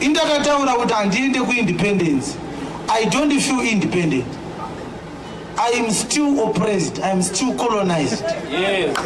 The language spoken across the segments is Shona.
Indakataura kuti handiende kuindependence. I don't feel independent. I am still oppressed. I am still colonized. Yes.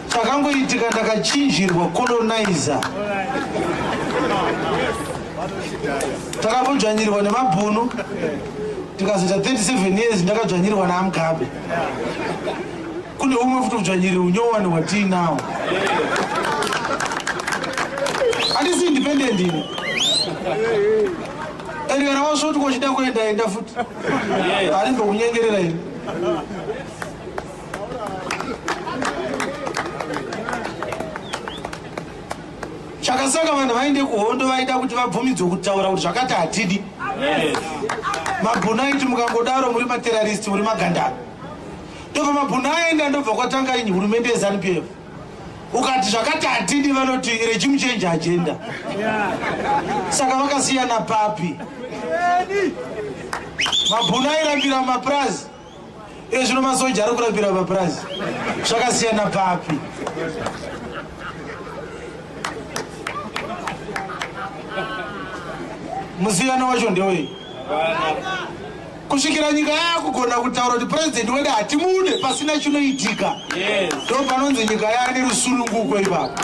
Chakangoitika ndakachinjirwa colonizer. Takambojanyirwa nemabhunu. Tikazoita 37 years ndakajanyirwa naamgabe. Kune umwe futi udzvanyiriri unyowani hwatiinawo. Handisi independent ini. Erika rawasvoti kwachida kuenda enda futi. Ari ndokunyengerera ini. chakasaka vanhu vaende kuhondo vaida kuti vabvumidzwe kutaura kuti zvakati hatidi mabhunaiti mukangodaro muri materaristi muri magandaro ndobva mabhunu aenda ndobva kwatanga ini hurumende yezanu p f ukati zvakati hatidi vanoti regimu change agenda saka vakasiyana papi mabhunu airambira mapurazi iye zvino masoja ari kurambira mapurazi zvakasiyana papi musiyano wacho ndewei kusvikira nyika yakugona kutaura kuti purezidenti wedu hatimude pasina chinoitika ndo panonzi nyika yaane rusununguko ipapo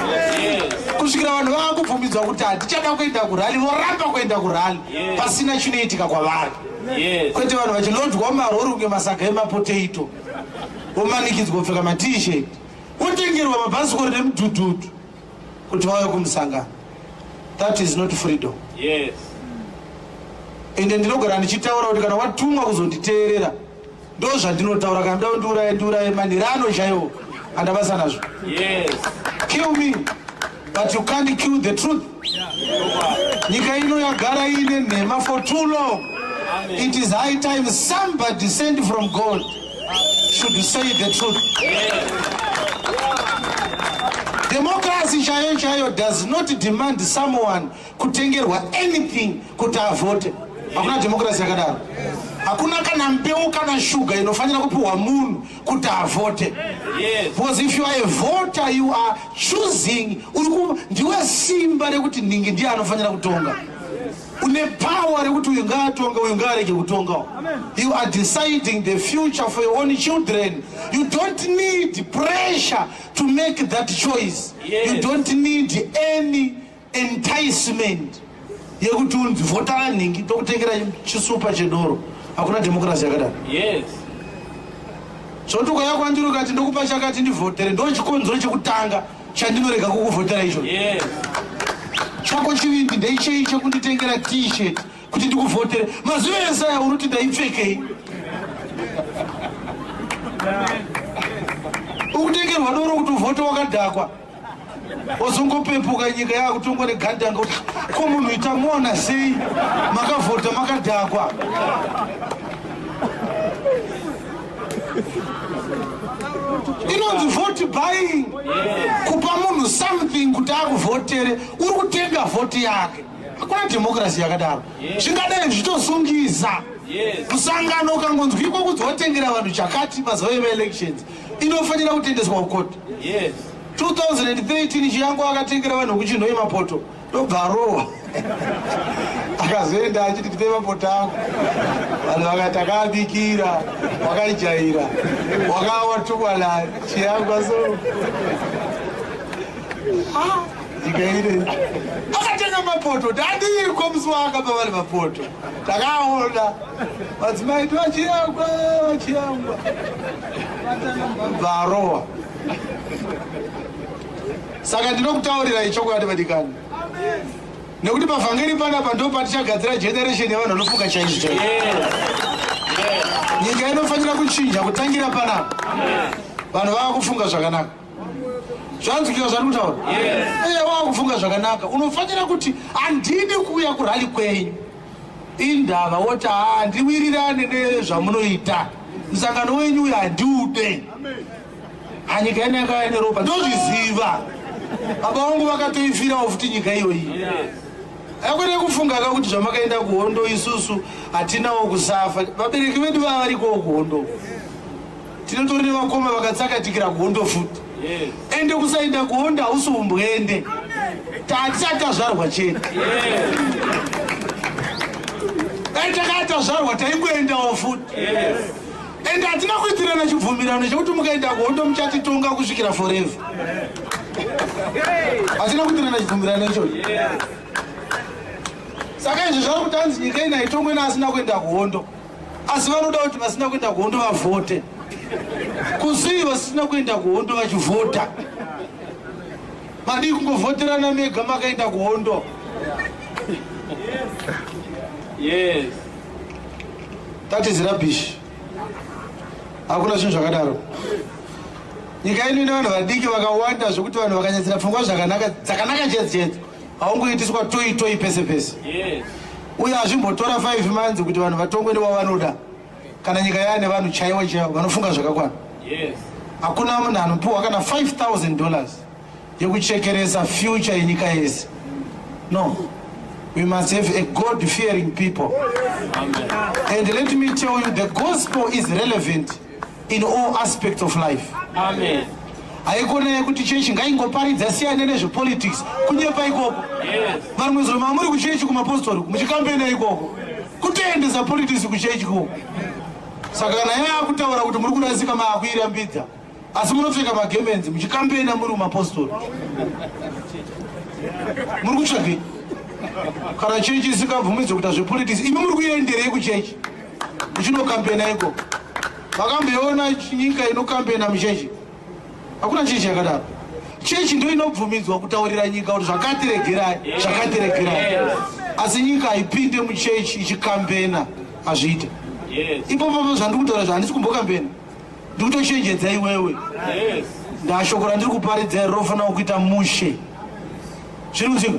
kusvikira vanhu vava kubvumidzwa kuti hatichada kuenda kurali voramba kuenda kurali pasina chinoitika kwavari kwete vanhu vachilodwa marori kunge masaga emapotato vomanikidzwa kupfeka matishet votengerwa mabhasikori nemudhudhudhu kuti vave kumusangano that is not freedom yes ende ndinogara ndichitaura kuti kana watumwa kuzonditeerera ndo zvandinotaura kana nda ndiuraye ndiuraye manhiri ano chaiwo andabasa nazvo yes kill me but you can't kill the truth nyika ino yagara iine nhema for too long it is high time somebody send from god should say the truth democracy chaiyo chaiyo does not demand someone kutengerwa anything kuti avote hakuna democracy yakadaro hakuna kana mbeu kana shuga inofanira kupiwa munhu kuti avote because if you are a voter you are choosing ndiwe simba rekuti nhingi ndiye anofanira kutonga une power rekuti uyu ngaatonge uyu ngaarege kutongawo you are deciding the future for your own children you don't need pressure to make that choice yes. you don't need any enticement yekuti unzi vhotara nhingi tokutengera chisupa chedoro hakuna democracy yakadaro yes zvoti ukayakwandirukati ndokupa chakati ndivhotere ndochikonzero chekutanga chandinorega kukuvhotera icho chako chivindi ndeichei chekunditengera t-shirt kuti ndikuvhotere mazuva ese aya unoti ndaipfekei ukutengerwa doro kuti uvhote wakadhakwa ozongopepuka nyika yakutongwa negandanga kuti ko munhu itamona sei makavhota makadhakwa inonzi vote buying kupa munhu something kuti akuvhotere uri kutenga vhoti yake hakuna dhemokirasi yakadaro zvingadai zvichitosungisa musangano ukangonzwiko kunzi wotengera vanhu chakati mazuva emaelections inofanira kutendeswa kukoti 2013 chiyango akatengera vanhu kuchinhoye mapoto ndobva arohwa akazoenda achiti tipe mapota ako vanhu vakati akaabikira wakaijaira wakawa tukwana chiyangwa so ndikaire akatenga mapoto tadiiko musi waakapa vari mapoto takaona madzimai ti vachiyangwa vachiyangwa bvarowa Saka ndinokutaurirai chokwadi vadikani, nekuti pavhangeri panapa ndo patichagadzira generation yevanhu vanofunga chaizvo chaizvo. Nyika inofanira kuchinja kutangira panapa, vanhu vava kufunga zvakanaka zvanzwikira zvandiri kutaura eye wava kufunga zvakanaka unofanira kuti handidi kuuya kurali kwenyu indava woti haa ndiwirirane nezvamunoita musangano wenyu uyo handiude anyika yene yakaya neropa ndozviziva baba vangu vakatoifirawo futi nyika iyoyi akwete kufunga ka kuti zvamakaenda kuhondo isusu hatinawo kusafa vabereki vedu vava varikowo kuhondo tinotori nevakoma vakatsakatikira kuhondo futi ende kusaenda kuhondo hausi umbwende tatisati tazvarwa chete dai takatazvarwa taingoendawo futi ende hatina kuitirana chibvumirano chekuti mukaenda kuhondo muchatitonga kusvikira forever hatina kuitirana chibvumirano ichocho saka izvi zvava kuti hanzi nyika ina itongwe naasina kuenda kuhondo asi vanoda kuti vasina kuenda kuhondo vavhote kuzii vasina kuenda kuhondo vachivhota madii kungovhoterana mega makaenda kuhondo yes. Yes. that is rubbish hakuna zvinhu zvakadaro nyika yedu ine vanhu vadiki vakawanda zvekuti vanhu vakanyadzira pfungwa zvakanaka dzakanaka chedzi chedzi haungoitiswa toi toi pese pese uye hazvimbotora five months kuti vanhu vatongwe newavanoda kana nyika yaane vanhu chaiwo chaiwo vanofunga zvakakwana hakuna munhu anopiwa kana 5000 dollars yekuchekeresa future yenyika yese no we must have a god fearing people and let me tell you the gospel is relevant in all aspects of life Amen. haikona yekuti chechi ngaingoparidza siyane nezvepolitics kunyepa ikoko varumwe zuro mamuri kuchechi kumapostori muchikambena ikoko kutoendesa politics kuchechi koko saka kana yaakutaura kuti muri kurasika maakuirambidza asi munopfeka magemenzi muchikambena muri mumapostori muri kutsvagei kana chechi isikabvumidzwe kuita zvepolitics imi muri kuenderei kuchechi muchinokambena iko makambeona nyika inokambena muchechi hakuna chechi yakadaro chechi ndo inobvumidzwa kutaurira nyika kuti zvakatiregerai zvakatiregerai asi nyika haipinde muchechi ichikambena hazviite ipopopo zvandikutaura zvahandisi kumbokambena ndikutochenjedza iwewe ndashoko randiri kuparidza iri rofanira kuita mushe zviri kuziva